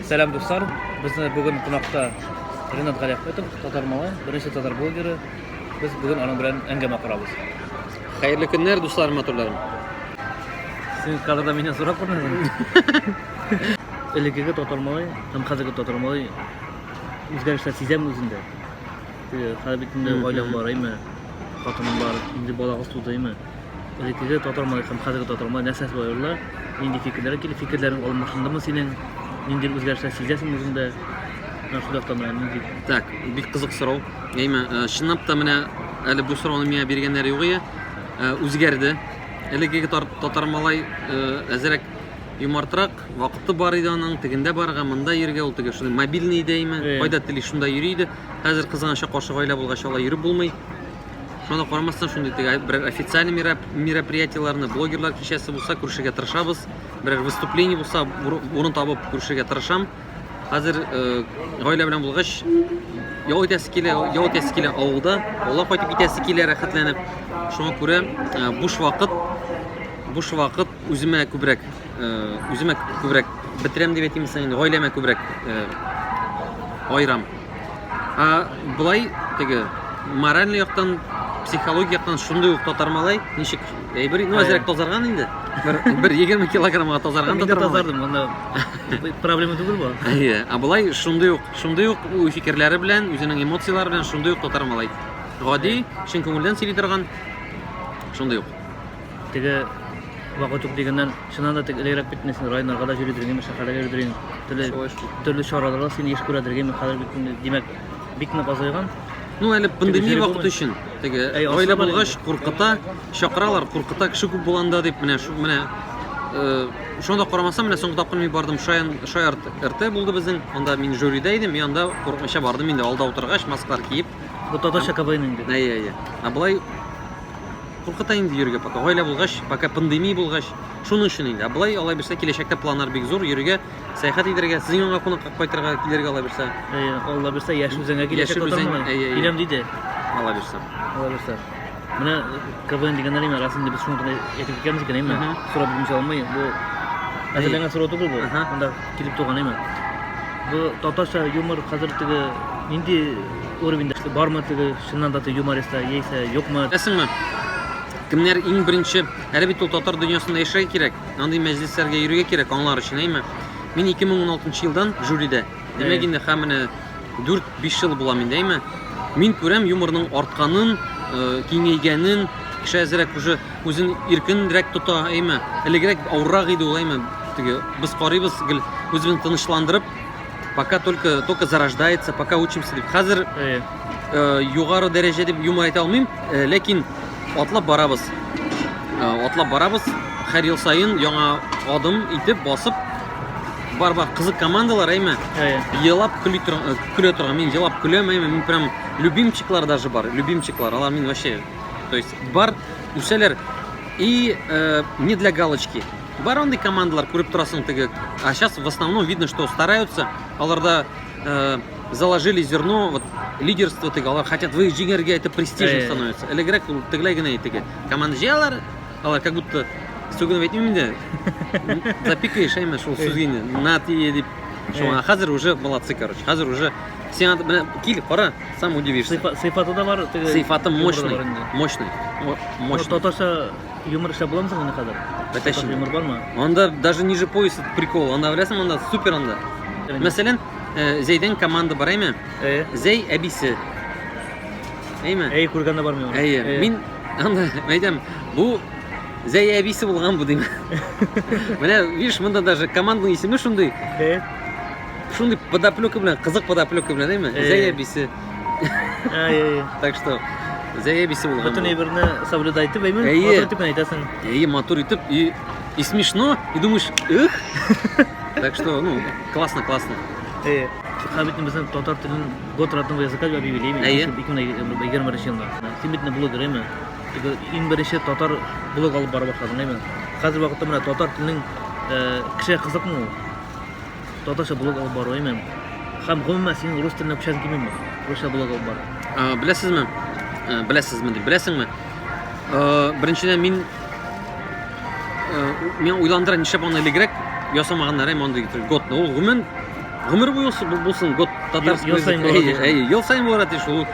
Сәлам дуслар, безне бүген кунакта Ренат Галиахметов, татар малай, беренче татар блогеры. Без бүген аның белән әңгәмә корабыз. Хәерле көннәр, дуслар, матурларым. Син кадрда мине сорап күрмәдеңме? Элекеге татар малай һәм хәзерге татар малай үзгәрешләр сизәме үзендә? Теге, Хәзер бит инде Мгм. гаилә бар, әйме? Хатының бар, инде балагыз тудымы? Элеккеге татар малае һәм хәзерге татар малае нәрсә шулай аерыла? Нинди фикерләр килә? Фикерләрең алмашындымы синең? Нинди үзгәрешләр сизәсең үзеңдә? Менә шул яктан менә нинди? Так, бик кызык сорау. Әйме, э, чынлап та менә әле бу сорауны миңа биргәннәр югые э, үзгәрде. Элеккеге тар- татар малай э, әзерәк юмартрак, вакыты бар иде аның, тегендә барырга, монда йөргә, ул теге шундый мобильный дәйме, Э. кайда тели шунда йөри иде. Хәзер кызганычка каршы гаилә булгач алай йөреп булмый. Шуңа да карамастан, шундый теге берәр официальный мероприятиеләрне, блогерлар кичәсе булса, күрешергә тырышабыз. Берәр выступление булса, урын табып күрешергә тырышам. Хәзер э, гаилә белән булгач, ял итәсе килә, ял итәсе килә авылда, авылга кайтып китәсе килә рәхәтләнеп. Шуңа күрә э, буш вакыт, буш вакыт үземә күбрәк, э, үземә күбрәк бетерәм дип әйтимсең, гаиләмә күбрәк айрам. Ә болай теге моральный яктан, психологик яктан шундый ук татар малай, ничек әйбер, ну әзрәк тазарган инде. Бер бер 20 килограммга тазарган татар малай. Мин тазардым, монда проблема түгел бу. Әйе, ә болай шундый ук, шундый ук уй фикерләре белән, үзенең эмоцияләре белән шундый ук татар малай. Гади, чын күңелдән сөйли торган, шундый ук. Теге вакыт юк дигәннән, чыннан да теге элегрәк бит син районнарга да йөридер инде, шәһәрләргә йөридер инде. Төрле төрле чараларда син еш күрәдер инде, хәзер бит инде, димәк, бик нык азайган. Ну, әле пандемия вакыты өчен. Теге Әй, гаилә асылы булгач, куркыта, чакыралар, куркыта, кеше күп булганда дип, менә шу- менә э, шуңа да карамастан, менә соңгы тапкыр мин бардым, Шаян Шая РТ булды безнең. Анда мин жюрида идем, и анда курыкмыйча бардым инде, алда утыргач, масклар киеп. Бу татарча КВН инде. Әйе, әйе. А болай куркыта инде йөрергә пока гаилә булгач пока пандемия булгач шуның өчен инде былай алай бирсә киләчәктә планнар бик зур йөрергә сәяхәт итәргә сезнең янга кунакка кайтырга килергә алай бирсә әйе алла бирсә яшь үзәнгә киләчәк киләм диде алла бирсә алла бирсә менә квн дигәннәр имя рас инде без шуны гына әйтеп киткәнбез икән имя сорап бирмичә алмый бу әзерләнгән сорау түгел бу монда килеп туган имя бу татарча юмор хәзер теге нинди уровеньда бармы теге Чыннан да ты юмористлар яисә юкмы? Беләсеңме, кемнәр иң беренче, әле бит ул татар дөньясында яшәргә кирәк, андый мәҗлесләргә йөрергә кирәк аңлар өчен, әйме? Мин 2016 елдан жюридә, димәк инде һәм менә 4-5 ел булам инде, әйме? Мин күрәм юморның артканын, киңәйгәнен, кеше әзрәк уже үзен иркенрәк тота, әйме? Элегрәк авыррак иде ул, әйме? Теге без карыйбыз гел үзебезне тынычландырып, пока только только зарождается пока учимся деп хәзер э, э, югары дәрәҗә дип юмор әйтә алмыйм э, ләкин атлап барабыз э, атлап барабыз һәр ел саен яңа адым итеп басып бар бар кызык командалар әйме э, елап көлә торган көлә торган мин елап көләм әйме мин прям любимчиклар даже бар любимчиклар алар мин вообще то есть бар үсәләр и э, не для галочки Бар андый командалар, күреп торасың теге. А сейчас в основном видно, что стараются, аларда э, заложили зерно, вот лидерство теге, алар хотят вы җиңәргә, это престижно становится. Элегрәк ул тегеләй генә итеге. Команда җыялар, алар как будто сүгенеп әйтмим инде. Запикаешь әйме шул сүзгене. На тие дип. Шуңа хәзер уже молодцы, короче. Хәзер уже сиңа белән кил, кара, сам удивишься. Сыйфаты да бар. Сыйфаты мощный, мощный. Мощный. Татарча Юмор эшләп буламы соң аны хәзер? Бәтәшин. Юмор бармы? Анда даже ниже пояса прикол. Анда беләсең, анда супер анда. Мәсәлән, э, Зәйдән команда бар, әйме? Э. Зәй әбисе. Әйме? Әй, күргәндә бармый ул. Әйе. Э. Мин анда әйтәм, бу Зәй әбисе булган бу дим. Менә, видишь, монда даже команданың исеме шундый. Э. Шундый подоплёка белән, кызык подоплёка белән, әйме? Э. Зәй әбисе. Так что, заебись ул. Бөтен әйберне соблюдай итеп, әйме? Матур итеп әйтәсең. Әйе, матур итеп и и смешно, и думаешь, эх. Так что, ну, классно, классно. Э, Ха бит безнең татар телен год родного языка дип объявилеме? Әйе. 2021 елда. Син бит блогер, әйме? Иң беренче татар блог алып бара башладың, әйме? Хәзер вакытта менә татар теленең э, кеше кызыкмы ул? татарча блог алып бару имем. Хәм гомумән синең рус теленә күчәсең килми ме? Русча блог алып бару. Ә, Беләсезме? Ә, Беләсезме дип, беләсеңме? Ә, Беренчедән мин ә, у- миңа уйландыра нишләп аны элегрәк ясамаганнар әм андый итеп, годны. Ул гомумән гомер буе ул- бу- булсын год татарский. Ел- ел саен язык. булырга Әйе, тиеш. әйе, ел саен булырга тиеш ул.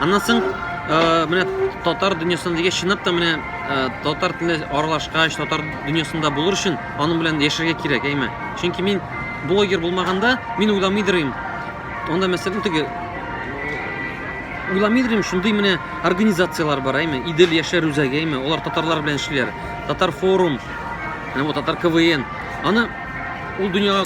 Аннан соң ә, менә татар дөньясында дигәч чынлап та менә ә, татар теле аралашкач, татар дөньясында булыр өчен аның белән яшәргә кирәк, әйме? Чөнки мин блогер булмаганда, мин уйламыйдырым. Анда мәсәлән теге уйламыйдырым, шундый менә организацияләр бар, әйме? Идел яшәр үзәге, әйме? Алар татарлар белән эшлиләр. Татар форум, менә бу татар КВН. Аны ул дөньяга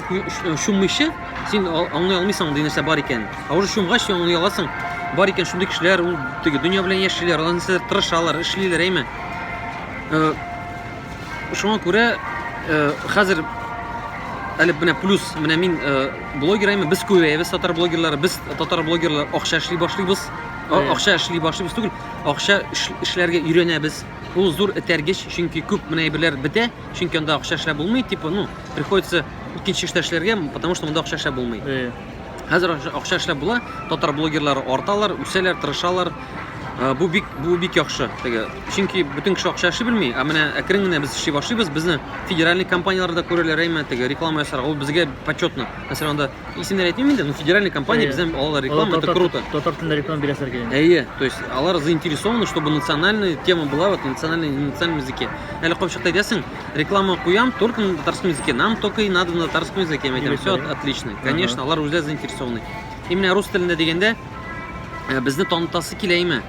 чуммыйча, син аңлый алмыйсың, ди нәрсә бар икән. Ә уже чумгач, аңлый аласың. Бар икән шундый кешеләр, ул теге дөнья белән яшиләр, алар нәрсә тырышалар, эшлиләр, әйме? Э, Шуңа күрә хәзер әле менә плюс менә мин блогер әйме без күбәябез татар блогерлары без татар блогерлар акча эшли башлыйбыз акча эшли башлыйбыз түгел акча эшләргә өйрәнәбез ул зур этәргеч чөнки күп менә әйберләр бетә чөнки анда акча эшләп булмый типа ну приходится икенче эштә эшләргә потому что монда акча эшләп булмый Хәзер акча эшләп була, татар блогерлары арталар, үсәләр, тырышалар. Э, бу бик бу бик яхшы. Теге, чөнки бөтен кеше акча эшли белми, ә менә әкрен генә без эшли башлыйбыз. Безне федеральный компанияләр дә күрәләр, әмма теге реклама ясарга ул безгә почетно. Мәсәлән, анда исемнәр әйтмим инде, но федеральный компания бездән алалар реклама, это круто. Татар телендә реклама бирәсәр килгән. Әйе, то есть алар заинтересованы, чтобы национальная тема была, вот национальный национальном языке. Әле капчыкта әйтәсең, реклама куям только на татарском языке нам только и надо на татарском языке мен айтамын все отлично конечно алар үзләре заинтересованный и менә рус телендә дигәндә э, безне танытасы килә име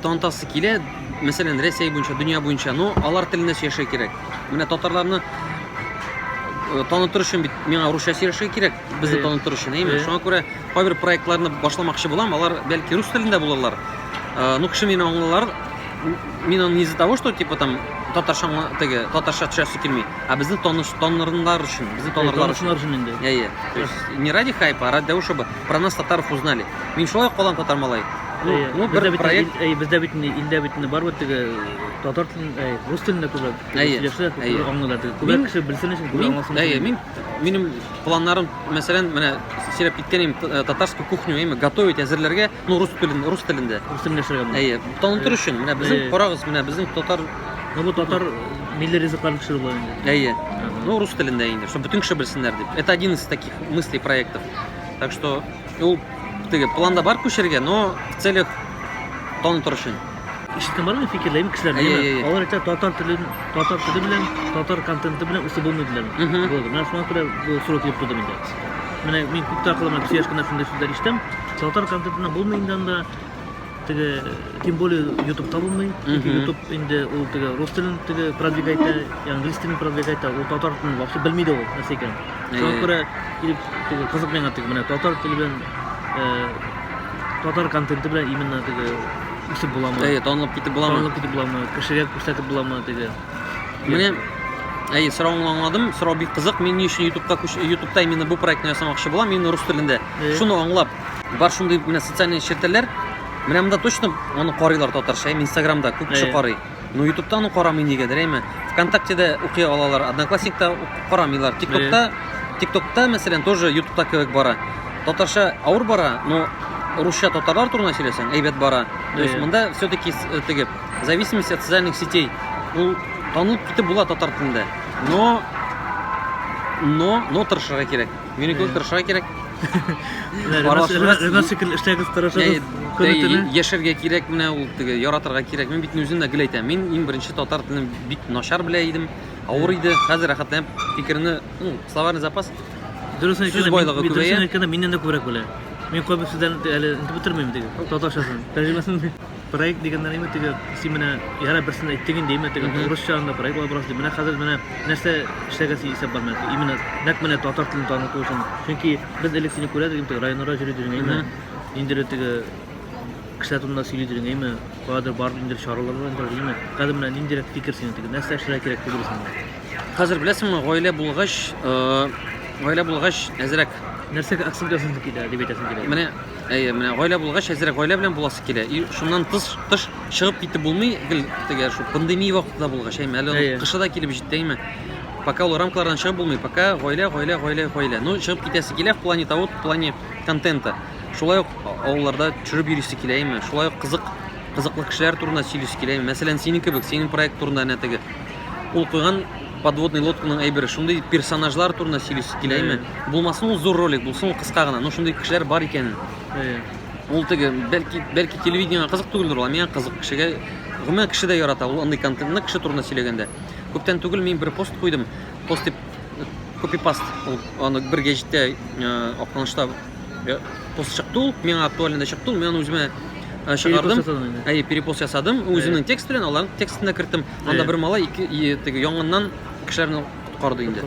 танытасы килә мәсәлән рәсәй буенча дөнья буенча но алар телендә сөйләшергә кирәк менә татарларны э, танытыр өчен бит миңа русча сөйләшергә кирәк Без дә танып торыш инде, Шуңа күрә кайбер проектларны башламакчы булам, алар бәлки рус телендә булырлар. Э, ну, кеше мине аңлалар. Мин аны не из-за того, что типа там татарча теге татарча төшәсе килми, а безне таныш танырынлар өчен, безне танырлар өчен. Танышынлар өчен инде. Әйе. То есть не ради хайпа, а ради того, чтобы про нас татаров узнали. Мин шулай калам татар малай. Ну, ну бер проект. Әйе, бездә бит илдә бит бар бит теге татар телен, рус телендә күбрәк сөйләшә, аңлыйлар. Күбрәк кеше белсен өчен, күбрәк аңласын. Әйе, мин Минем планнарым, мәсәлән, менә сөйләп киткән идем, э, татарскую кухню, әйме, готовить, әзерләргә, ну, рус телен, рус телендә. Рус телендә эшләргә булды. Әйе, танытыр өчен, менә безнең, Әйе. карагыз, менә безнең татар, Ну, бу татар э, милли ризыкларын пешерү була инде. әйе, Ага. ну, рус телендә инде, чтобы бөтен кеше белсеннәр дип. Это один из таких мыслей, проектов. Так что, ул, теге, планда бар күчергә, но в целях танытыр өчен. Ишеттең бармы фикерле бик кешеләр әйе, әйе, әйе. алар әйтә татар теле татар теле белән татар контенты белән үсеп булмый диләр болды менә шуңа күрә бу сурәт килеп тудым инде менә мин күптән кылымын кеше яшкәннән шундый сүзләр ишетәм татар контентына булмый инде анда теге тем более ютубта булмый ютуб инде ул теге рус телен теге продвигать итә английский телен продвигать итә ул татар телен вообще белми дә ул нәрсә икәнен Шуңа күрә килеп теге кызык миңа теге менә татар теле белән э, татар контенты белән именно теге үсеп буламы? Әйе, танылып китеп буламы? Танылып китеп буламы? Кешегә күрсәтеп буламы теге? Менә Әйе, соравыңны аңладым. Сорау бик кызык. Мин ни өчен YouTube'ка күч YouTube'та именно бу проектны ясамакчы булам, именно рус телендә. Э. Шуны аңлап, бар шундый менә социальный челтәрләр. Менә монда точно аны карыйлар татарча, Instagram'да күп кеше э. карый. Ну ютубтан ук карамый нигәдер әйме вконтактеда укый алалар одноклассникта карамыйлар тиктокта тиктокта мәсәлән тоже ютубта кебек бара татарча авыр бара но русча татарлар турында сөйләсәң әйбәт бара то есть монда все таки э, теге зависимость от социальных сетей ул танылып китеп була татар телендә но но но тырышырга кирәк Мине күп тырышырга кирәк. Ренат шикелле эшләгез, тырышыгыз. Яшәргә кирәк менә ул теге яратырга кирәк. Мин бит үзем дә гел әйтәм. Мин иң беренче татар телен бик начар белә идем. Авыр иде. Хәзер рәхәтләнеп фикерне, ну, словарный запас. Дөресен әйткәндә, мин дөресен әйткәндә миннән дә күбрәк белә. Мин кайбер сүзләрне әле инде бетермим диген. Татарчасын, тәрҗемәсен. Проект дигәннән инде теге син менә яра берсен әйттең инде, именно теге урысча анда проект алып барасың. Менә хәзер менә нәрсә эшләргә син исәп бар менә. Именно нәкъ менә татар телен таныту өчен. Чөнки без элек сине күрә идек, теге районнарда йөри идең, әйме? Инде теге кешеләр турында сөйли идең, әйме? Кадер бар инде чаралар бар инде, әйме? Хәзер менә ниндирәк фикер синең теге? Нәрсә эшләргә кирәк дип уйлыйсың? Хәзер беләсеңме, гаилә булгач, гаилә булгач әзрәк. Нәрсәгә акцент ясыйсың килә дип әйтәсең килә? Менә Әйе, менә гаилә булгач, әзрәк гаилә белән буласы килә. И шуннан тыш, тыш чыгып китеп булмый, гел теге шул пандемия вакытында булгач, әйме, әле Әйе. кышы да килеп җитте, әйме. Пока ул рамкалардан чыгып булмый, пока гаилә, гаилә, гаилә, гаилә. Ну, чыгып китәсе килә в плане того, в плане контента. Шулай ук авылларда төшереп йөрисе килә, әйме. Шулай ук кызык, кызыклы кешеләр турында сөйлисе килә, әйме. Мәсәлән, синең кебек, синең проект турында әнә теге. Ул куйган Подводный лодканың әйбере шундый персонажлар турында сөйлисе килә име? Булмасын ул зур ролик булсын, ул кыска гына, но шундый кешеләр бар икәнен. Ул теге бәлки бәлки телевидениегә кызык түгелдер ул, миңа кызык кешегә гомумән кеше дә ярата ул андый контентны кеше турында сөйләгәндә. Күптән түгел мин бер пост куйдым. Пост дип копипаст ул аны бер гәҗиттә Актанышта пост чыкты ул, миңа актуальный да чыкты ул, мин аны үземә чыгардым. Әйе, перепост ясадым, үземнең текст белән аларның текстына керттем. Анда бер малай ике теге янгыннан кешеләрне коткарды инде.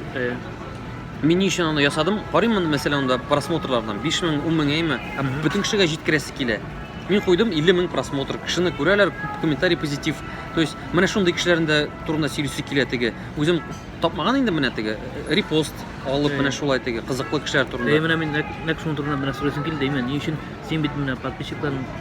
Мин ни өчен аны ясадым? Карыйм аны, мәсәлән, анда просмотрлардан 5000, 10000 әйме, һәм бөтен кешегә җиткерәсе килә. Мин куйдым 50 мең просмотр. Кешене күрәләр, күп комментарий позитив. То есть, менә шундый кешеләрнең дә турында сөйлисе килә теге. Үзем тапмаган инде менә теге репост алып менә шулай теге кызыклы кешеләр турында. Менә мин нәк шуның турында менә сөйләсем килде, именно ни өчен син бит менә подписчикларың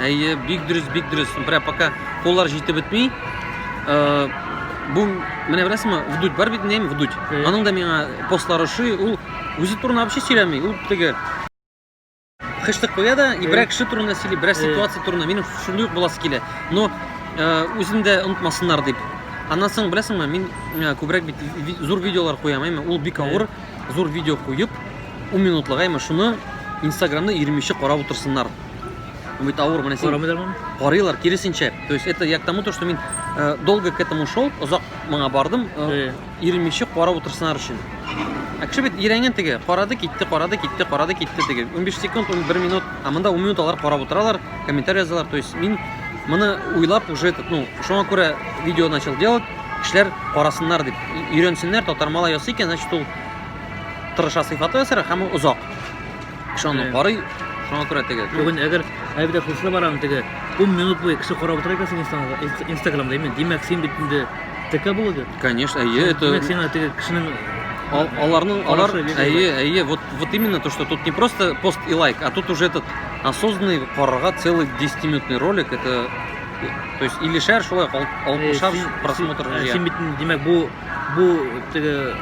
Әйе, бик дөрес, бик дөрес. Бра, пока коллар җитеп бетми. Э, бу менә беләсеңме, вдуть бар бит нем, вдуть. Аның да миңа постлары ши, ул үзе турында вообще сөйләми. Ул теге хыштык куя да, и берәк кеше турында сөйли, берәк ситуация турында. Минем шундый ук буласы килә. Но э, үзен дә онытмасыннар дип. Аннан соң беләсеңме, мин э, күбрәк бит зур видеолар куям, әйме, ул бик авыр, зур видео куеп, 10 минутлык, әйме, шуны Инстаграмны 20 карап утырсыннар. Үмит авыр менә син. Карамыйлар моны? Карыйлар, киресенчә. То есть это я к тому, то, что мин э, долго к этому шел, озак моңа бардым, э, иремичә карап утырсыннар өчен. Ә кеше бит ирәнгән теге, карады, китте, карады, китте, карады, китте теге. 15 секунд, 1 минут, а монда 10 минут алар карап утыралар, комментарий язалар. То есть мин моны уйлап уже этот, ну, шуңа күрә видео начал делать, кешеләр карасыннар дип, өйрәнсеннәр, татармала ясый икән, значит ул тырыша сыйфаты ясар һәм озак. Шуны карый, шуңа күрә теге. Бүген әгәр әйбәт хушла барам теге 10 минут буе кеше карап утыра икән синең инстаграмда, именно димәк син бит инде ТК блогер. Конечно, әйе, это... Димәк син теге кешенең аларның алар әйе, әйе, вот вот именно то, что тут не просто пост и лайк, а тут уже этот осознанный карарга целый 10-минутный ролик, это то есть или шәр шулай алып шар просмотр. Син бит димәк бу бу теге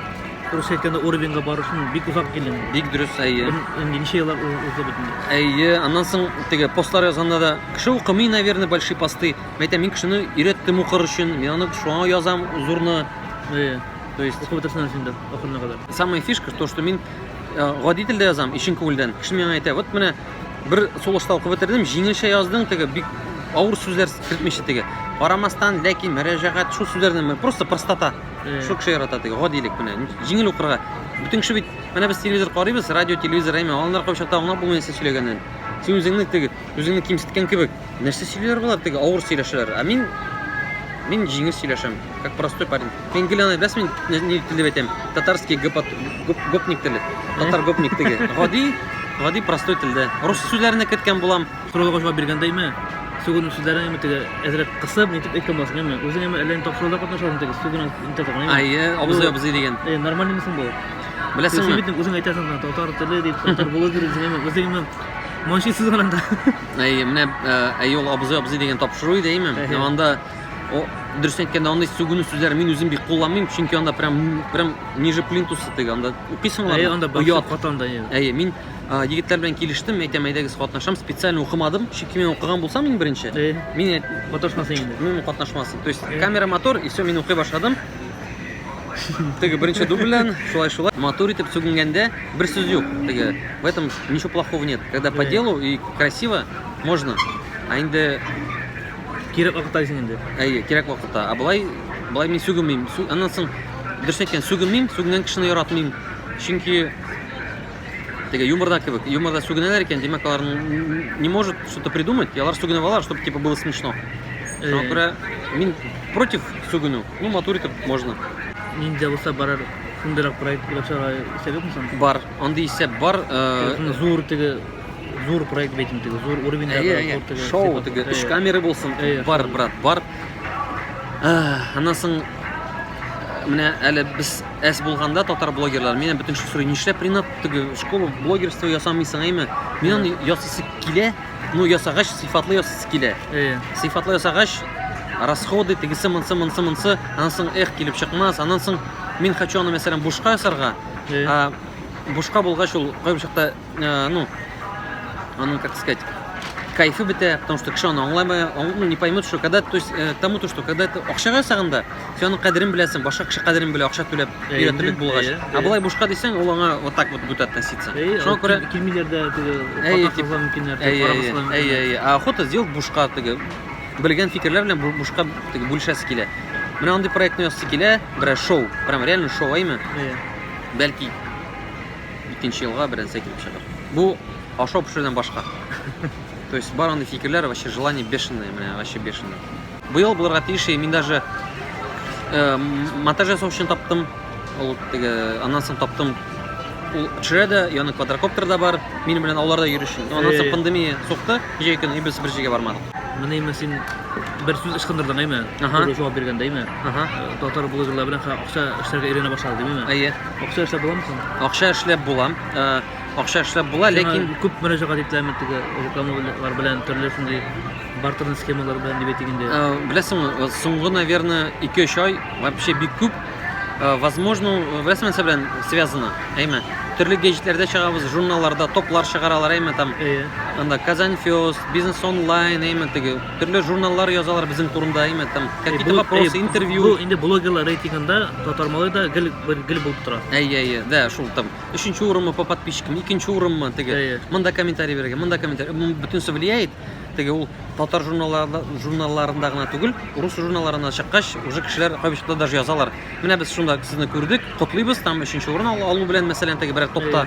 Дөрес әйткәндә, уровеньга бару өчен бик озак килдем. Бик дөрес, әйе. Инде ничә еллар узды бит инде. Әйе, аннан соң теге постлар язганда да кеше укымый, наверное, большие посты. Мәйтәм, мин кешене өйрәттем укыр өчен. Мин аны шуңа язам зурны. Әйе. То есть укып бетерсен син дә ахырына кадәр. Самая фишка то, что мин э, гади телдә язам, ишен күңелдән. Кеше миңа әйтә, вот менә бер солоста укып бетердем, җиңелчә яздың, теге бик авыр сүзләр кертмичә теге. Карамастан, ләкин, мөрәҗәгать, шул сүзләрне просто простота. Э. Шул кеше ярата теге гадилек менә. Җиңел укырга. Бүтән кеше бит, менә без телевизор карыйбыз, радио, телевизор әйме, алар кайчак та аңлап булмый нәрсә сөйләгәнен. Син үзеңне теге, үзеңне кимсеткән кебек. Нәрсә сөйлиләр болар теге авыр сөйләшәләр. Ә мин мин җиңел сөйләшәм, как простой парень. Мин гел аны беләсез мин ни теле әйтәм? Татарский гопот, гоп, гопник теле. Татар гопник теге. Гади, гади простой телдә. Рус сүзләренә керткән булам. Сорауларга җавап биргәндәйме, сугуның сүзләрен әмма теге әзрәк кысып, нитеп әйткән буласың, әмма үзең әмма әллә ни тапшыруда катнашасың теге сугуның интертагын, әмма. Әйе, абзый, абзый диген. Әйе, нормальныймы соң бу? Беләсеңме? Син бит үзең әйтәсең, менә татар теле дип, татар булу кирәк дип, әмма үзең әмма манчи сүз гына да. Әйе, менә әйе ул абзый, абзый дигән тапшыру иде, әйме? Әмма анда дөрес әйткәндә андый сугуның сүзләрен мин үзем бик кулланмыйм, чөнки анда прям прям ниже плинтуса теге анда укыйсың анда. Әйе, анда башка катанда. Әйе, мин Егетләр белән килештем, әйтәм, әйдәгез катнашам, специально укымадым, чөнки мин укыган булсам иң беренче, мин катнашмас инде. Мин катнашмас. То есть камера мотор и все, мин укый башладым. Теге беренче дубльдән шулай шулай матур итеп сүгенгәндә бер сүз юк. Теге в этом ничего плохого нет. Когда по делу и красиво можно. А инде кирәк вакытта дисең инде. Әйе, кирәк вакытта. А былай былай мин сүгенмим. Аннан соң дөрес әйткән, сүгенмим, сүгенгән кешене яратмыйм. Чөнки Теге юморда кебек. Юморда сүгенәләр икән, димәк, алар не может что-то придумать, и алар сүгенеп алар, чтобы типа было смешно. Шуңа э. күрә мин против сүгенү. Ну, матур итеп можно. Ниндә булса барар шундыйрак проект уйлап чыгарга исәп юкмы соң? Бар. Андый исәп бар. Э, э, зур теге зур проект бит инде, зур уровеньдагы, зур теге. Шоу теге, өч камера булсын. Бар, брат, бар. Аннан соң менә әле без әс булганда татар блогерлары менә бөтен шул сорый нишләп ринат теге школа блогерство ясамыйсың әйме мин аны ясыйсы килә ну ясагач сыйфатлы ясыйсы килә э. сыйфатлы ясагач расходы тегесе монсы монсы монсы аннан соң эх килеп чыкмас аннан соң мин хочу аны мәсәлән бушка ясарга э. бушка булгач ул кайбер чакта э, ну, оно, как сказать, кайфы бетә, потому что кеше аны аңламый, ну, не поймет, что когда, то есть, э, тому то, что когда это акчага сагында, сен аны кадерен беләсең, башка кеше кадерен белә, акча түләп, өйрәтеп бит булгач. А былай бушка дисәң, ул аңа вот так вот будет относиться. Шуңа күрә килмиләр дә, теге, катнашырга мөмкиннәр, карамаслар. Әй, әй, а охота сделать бушка, теге, белгән фикерләр белән бушка, теге, бүлешәсе килә. Менә андый проектны ясый килә, берәр шоу, прям реально шоу, әйме? Бәлки икенче елга беренсе килеп чыгар. Бу ашау пешерүдән башка. То есть бар андый фикерләр, вообще желание бешеное, менә вообще бешеное. Бу ел булырга тиеш, мин даже э, монтаж ясау өчен таптым. Ул теге аннан соң таптым. Ул төшерә дә, яны квадрокоптер да бар. Мин белән аларда йөрүче. Аннан соң пандемия сукты, җәй көне и без бер җиргә бармадык. Менә имә син бер сүз ычкындырдың, әйме? Ага. Бергә җавап биргәндә, әйме? Ага. Э, татар блогерлары белән Акча эшләргә өйрәнә башлады димиме? Әйе. Акча эшләп буламы соң? Акча эшләп була. Э, акча эшләп була, ләкин күп мөрәҗәгать ителәме теге рекламалар белән, төрле шундый бартерный схемалар белән дип әйтик инде. Э, беләсеңме, э, соңгы, наверное, 2-3 ай вообще бик күп возможно, беләсеңме нәрсә белән связано? Әйме, төрле геҗитләрдә чыгабыз, журналларда топлар чыгаралар, әйме там. Әйе. Анда Казань Фест, Бизнес онлайн, әйме теге Төрле журналлар язалар безнең турында, әйме, там, какие-то вопросы, интервью. Бу инде блогерлар рейтингында Татар малай да гел бер гел булып тора. Әйе, әйе, да, шул там. Өченче урынмы по подписчикам, икенче урынмы, теге. Әйе. Монда комментарий бирергә, монда комментарий. Бу бөтенесе влияет. Теге ул татар журналларында, журналларында гына түгел, рус журналларына чыккач, уже кешеләр кайбышта даже язалар. Менә без шунда сезне күрдек, котлыйбыз, там өченче урын ал- алу белән, мәсәлән, теге берәр топта.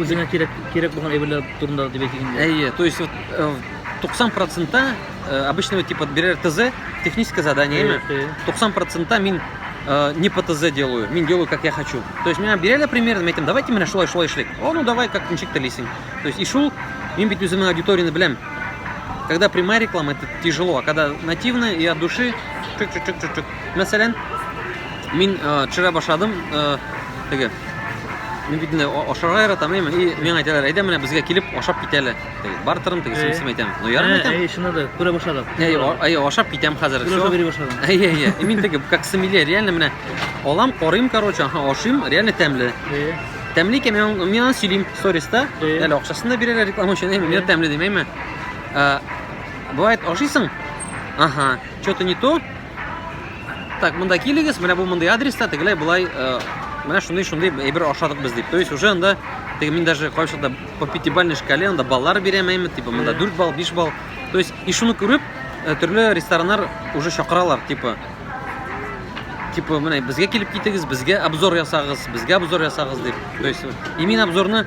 Үзеңә кирәк кирәк булган әйберләр турында дип әйтик инде. Әйе, то есть вот 90 э, процентта э, обычного типа берер ТЗ, техническое задание, әйе, әйе. 90 процентта мин э, не по ТЗ делаю, мин делаю как я хочу. То есть меня берели примерно, мен әйтәм, давайте менә шулай шулай эшлик. О, ну давай, как ничек телисең. То есть и шул, мин бит үземнең аудиторияне беләм. Когда прямая реклама, это тяжело, а когда нативная и от души, чик-чик-чик-чик. Мәсәлән, мин э, вчера башладым, э, теге, Мин бит инде ашарга яратам, әйме, и миңа әйтәләр, әйдә менә безгә килеп ашап кит әле. Бар тырым теге сымсым әйтәм. Ну ярым әйтәм. Әй, шуны да күрә башладык. Әй, әй, ашап китәм хәзер. Күрә бери башладым. Әй, әй, әй. Мин теге как сымиле, реально менә алам, карыйм, короче, аха, ашыйм, реально тәмле. Тәмле икән, мин мин аны сөйлим сториста. Әле акчасын да бирәләр реклама өчен, әйме, мин тәмле дим, әйме. Бывает, ашыйсың? Ага, что-то не то, Так, монда килегез, менә бу мондый адреста, тегеләй болай, э, менә шундый шундый әйбер ашадык без дип. То есть уже анда теге мин даже кайчакта по пятибалльной шкале анда баллар бирәм әйме, типа монда 4 балл, 5 балл. То есть и шуны күреп э, төрле рестораннар уже чакыралар, типа типа менә безгә килеп китегез, безгә обзор ясагыз, безгә обзор ясагыз дип. То есть именно обзорны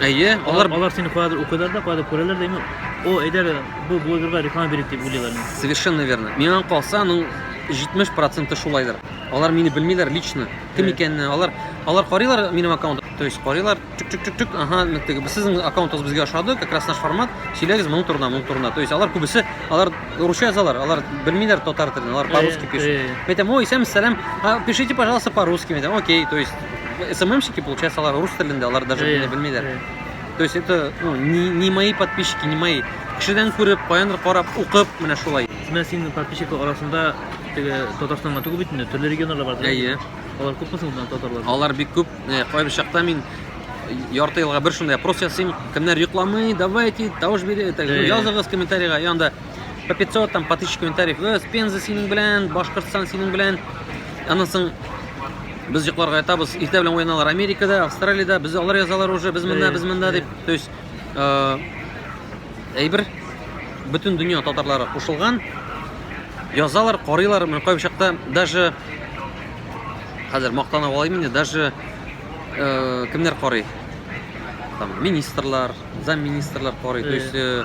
Әйе, алар Алар, алар сине каядыр укыйлар да, каядыр күрәләр дә, именно, о, әйдә, бу блогерга реклама бирик дип уйлыйлар. инде. совершенно верно. Миңа калса, аның 70% шулайдыр. Алар мине белмиләр лично. Кем Әйе. икәнне, алар алар карыйлар минем аккаунт, то есть карыйлар, чик-чик-чик-чик, ага, ну, теге, сезнең аккаунтыгыз безгә ошады, как раз наш формат, сөйләгез моның турында, моның турында. То есть алар күбесе, алар русча язалар, алар белмиләр татар телен, алар по-русски Әйе, пишут. әйе. Мен әйтәм, ой, исәнмесез, сәлам, а, пишите, пожалуйста, по-русски, мен әйтәм, окей, то есть СММщики, получается, алар рус телендә, алар даже Әйе, белмиләр. әйе. То есть это ну, не, не мои подписчики, не мои. Кешедән күреп, каяндыр карап, укып, менә шулай. Менә синең подписчиклар арасында теге Татарстанга түгел бит инде, төрле регионнарда бар. Әйе. Алар күпме соң монда татарлар? Алар бик күп. Э, Кайбер чакта мин ярты елга бер шундый опрос ясыйм. Кемнәр йокламый, давайте, тавыш бирә, так, Әйе. языгыз комментарийга. Янда по 500 там по 1000 комментариев. Э, Пенза синең белән, Башкортстан синең белән. Аннан соң без йокларга ятабыз. Иртә белән уяналар Америкада, Австралиядә, без алар язалар уже, без монда, без монда дип. То есть э, әйбер бөтен дөнья татарлары кушылган. Язалар, карыйлар, менә кайбер чакта даже хәзер мактана алайм инде, даже э, кемнәр карый? Там министрлар, замминистрлар карый. То есть э,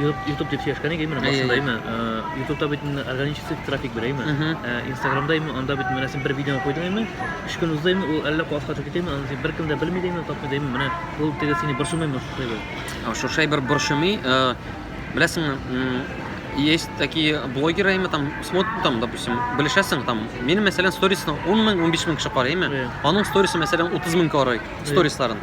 Ютуб дип сөйләшкән идек менә башында әйме ютубта бит инде органический трафик бирә әйме инстаграмда әйме анда бит менә син бер видеоны куйдың әйме өч көн узды әйме ул әллә каласка төшеп китә әйме аны син беркем дә белми дә әйме тапмый да әйме менә ул теге сине борчымыймы шушай бер шушай бер борчымый беләсеңме есть такие блогеры әйме там смотрит там допустим белешәсең там мин мәсәлән сторисны он мең он биш мең кеше карый әйме аның сторисы мәсәлән утыз мең карый сторисларын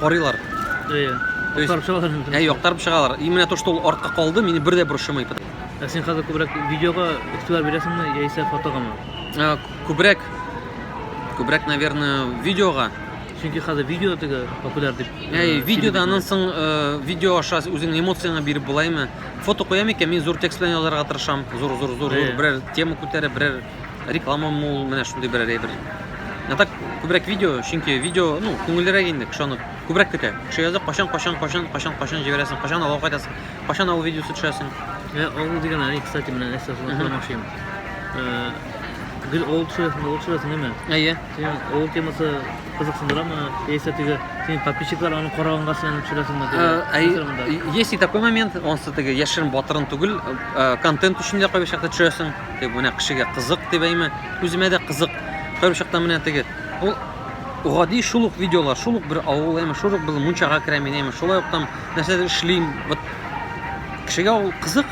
карыйлар. Әйе. Актарып чыгалар. Әйе, актарып чыгалар. И менә то, что ул артка калды, мине бер дә борчымый. Ә син хәзер күбрәк видеога игътибар бирәсеңме яисә фотогамы? Ә, Күбрәк күбрәк, наверное, видеога. Чөнки хәзер видео теге популяр дип. Әй, видеода аннан соң э, видео аша үзеңнең эмоцияңа биреп булаймы? Фото куям икән, мин зур текст белән язарга тырышам. Зур, зур, зур, зур. Әйе. Берәр тема күтәреп, берәр реклама мул, менә шундый берәр әйбер. Ә так күбрәк видео, чөнки видео, ну, күңеллерәк инде, кешене күбрәк көтә. Кеше яза, кашан, кашан, кашан, кашан, кашан җибәрәсең, кашан алга кайтасың, кашан авыл видеосы төшәсең. Ә авыл дигән әни, кстати, менә нәрсә сорашмакчы идем. Э, гел авыл төшерәсең, авыл төшерәсең, әмма. Әйе. Син авыл темасы кызыксындырамы? Яисә теге синең подписчиклар аны караганга син аны төшерәсеңме? Э, есть и такой момент, онсы теге яшерен батырын түгел, э, контент өчен дә кайбер чакта төшерәсең. Дип менә кешегә кызык дип әйме. Үземә дә кызык. Кайбер чакта менә теге ул гади шул ук видеолар, шул ук бер авыл, әйме шул ук бер мунчага керә мин, әйме шулай ук там нәрсәдер эшлим. Вот кешегә ул кызык.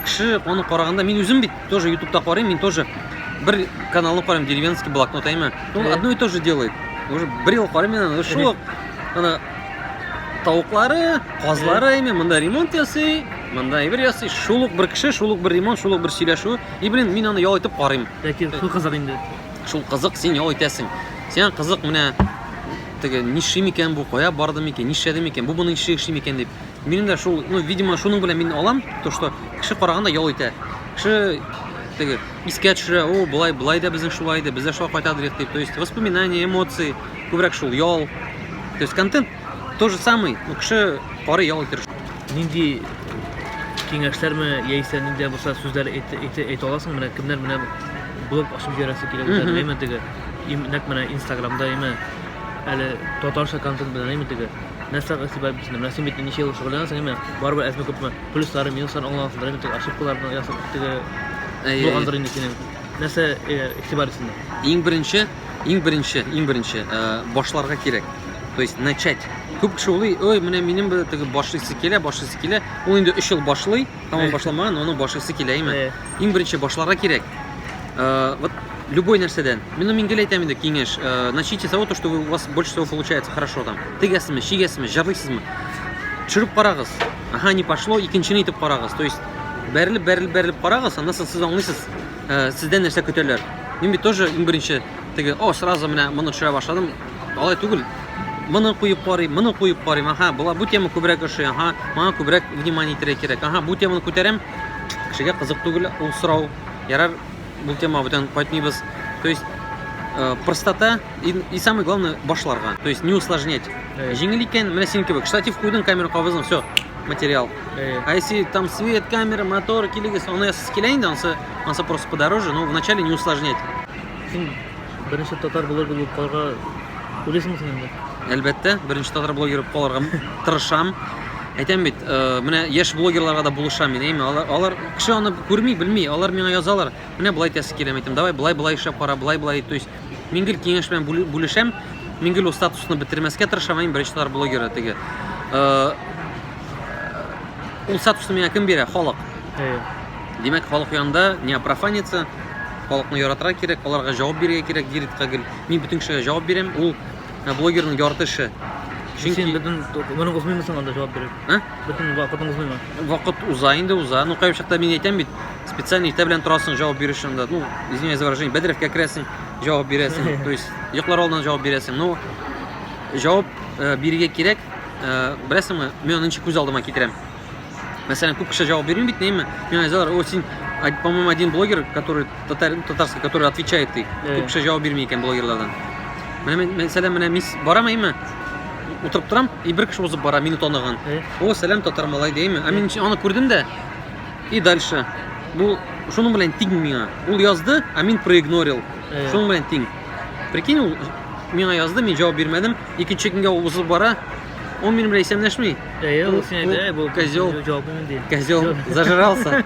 Кеше аны караганда мин үзем бит тоже ютубта карыйм, мин тоже бер каналны карыйм, деревенский блокнот, әйме. Ул одно и то же делает. Уже бер ел карыйм мин аны, шул ук ана тавыклары, казлары, әйме, монда ремонт ясый, монда әйбер ясый. Шул ук бер кеше, шул ук бер ремонт, шул ук бер сөйләшү. И, блин, мин аны ял итеп карыйм. Ләкин шул кызык инде. Шул кызык, син ял итәсең. Сиңа кызык менә теге ниши микән бу, кая барды микән, нишләде микән, бу моны ниши эшли микән дип. Минем дә шул, ну, видимо, шуның белән мин алам, то что кеше караганда ял итә. Кеше теге искә төшерә, о, былай, былай да безнең шулай иде, без дә шулай кайтадыр дип. То есть воспоминания, эмоции. Күбрәк шул ял. То есть контент тоже самый, но кеше кары ял итер. Нинди киңәшләрме яисә нинди булса сүзләр әйтә аласың? Менә кемнәр менә блог ачып җөрәсе килә үзләренә, әмма теге нәкъ менә Инстаграмда, әмма әле татарча контент белән әмма теге нәрсә игътибар бирсен. Менә син бит ничә ел шөгыльләнәсең, әмма барыбер әзме күпме плюслары, минуслары аңлансындыр, әмма теге ошибкаларны ясап теге булгандыр инде синең. Нәрсә игътибар итсеннәр? Иң беренче иң беренче иң беренче э, башларга кирәк то есть начать күп кеше уйлый ой менә минем бер теге башлыйсы килә башлыйсы килә ул инде өч ел башлый һәм ул башламаган оның башлыйсы килә име Э. иң беренче башларга кирәк Э, вот любой нәрсәдән мин мин гел әйтәм инде киңәш э, начните с того то что вы- у вас больше всего получается хорошо там тегәсезме чигәсезме җырлыйсызмы төшереп карагыз ага не пошло икенчене итеп карагыз то есть бәрелеп бәрелеп бәрелеп карагыз аннан соң сез аңлыйсыз Э, сездән нәрсә көтәләр? Мин бит тоже иң беренче теге, о, сразу менә моны төшерә башладым. Алай түгел. Моны куеп карыйм, моны куеп карыйм. Аха, була бу тема күбрәк ошый. Аха, моңа күбрәк внимание итәргә кирәк. Аха, бу теманы күтәрәм. Кешегә кызык түгел ул сорау. Ярар, бу тема бүтән кайтмыйбыз. То есть э, простота и, и самое главное башларга. То есть не усложнять. Җиңел икән, менә синеке бик. Штатив куйдың, камера кабыздың, все. материал. Э. А если там свет, камера, мотор, килигис, он с келейн, он со, он со просто подороже, но вначале не усложнять. Син беренче татар блогер булып калырга уйлыйсыңмы син инде? Әлбәттә, беренче татар блогер булып калырга тырышам. Әйтәм бит, э, менә яшь блогерларга да булышам мин, әйме, алар, алар кеше аны күрми, белми, алар миңа язалар. Менә болай тәсе киләм әйтәм, давай, болай, болай эшләп кара, болай, болай, то есть Мин гел киңәш белән бүлешәм. Мин гел статусны бетермәскә тырышам, мин беренче тар блогеры теге. Э, ул статусны миңа кем бирә? Халык. Әйе. Димәк, халык янында не профаниться, халыкны яратырга кирәк, аларга җавап бирергә кирәк, Диритка гел. Мин бөтен кешегә җавап бирәм. Ул э, блогерның ярты эше. Чөнки син бөтен моны узмыймсың анда җавап биреп. Ә? Бөтен вакытың узмыймы? Вакыт уза инде уза. Ну, кайбер чакта мин әйтәм бит, специально иртә белән торасың, җавап бирү да. Ну, извиняюсь за выражение, бәдрәфкә керәсең, җавап бирәсең. То есть, йоклар алдыннан җавап бирәсең. Ну, җавап э, бирергә кирәк. Э, Беләсеңме, мин аны ничек күз алдыма китерәм. Мәсәлән, күп кеше җавап бирми бит, нәйме? Мин әйтәләр, "О, син, по-моему, один блогер, который Татар, татарский, который отвечает ты. Э. Күп кеше җавап бирми икән блогерлардан. Менә мен- мәсәлән, менә мисс барам әйме? Утырып торам, и бер кеше узып бара, мине таныган. Э. О, сәлам татар малай дейме? Ә мин аны күрдем дә. И дальше. Бу шуның белән тиң миңа. Ул язды, а мин проигнорил. Э. Шуның белән тиң. Прикинь, ул миңа язды, мин җавап бирмәдем. Икенче көнгә ул узып бара. Ул минем белән исәнләшми. Әйел, син әйт, әй, бу козел. Козел зажрался.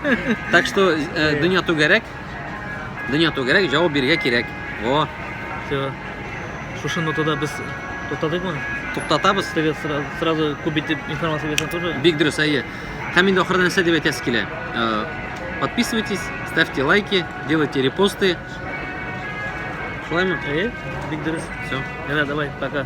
Так что э, дөнья түгәрәк. Дөнья түгәрәк, җавап бирергә кирәк. О. Все. Шушы нотада без туктадыкмы? Туктатабыз. Теге сразу күп итеп информация бирсәң тоже. Бик дөрес, әйе. Һәм инде ахырда нәрсә дип әйтәсе килә? Э, подписывайтесь, ставьте лайки, делайте репосты. Шулаймы? Әйе, бик дөрес. Все. Ярар, давай, пока.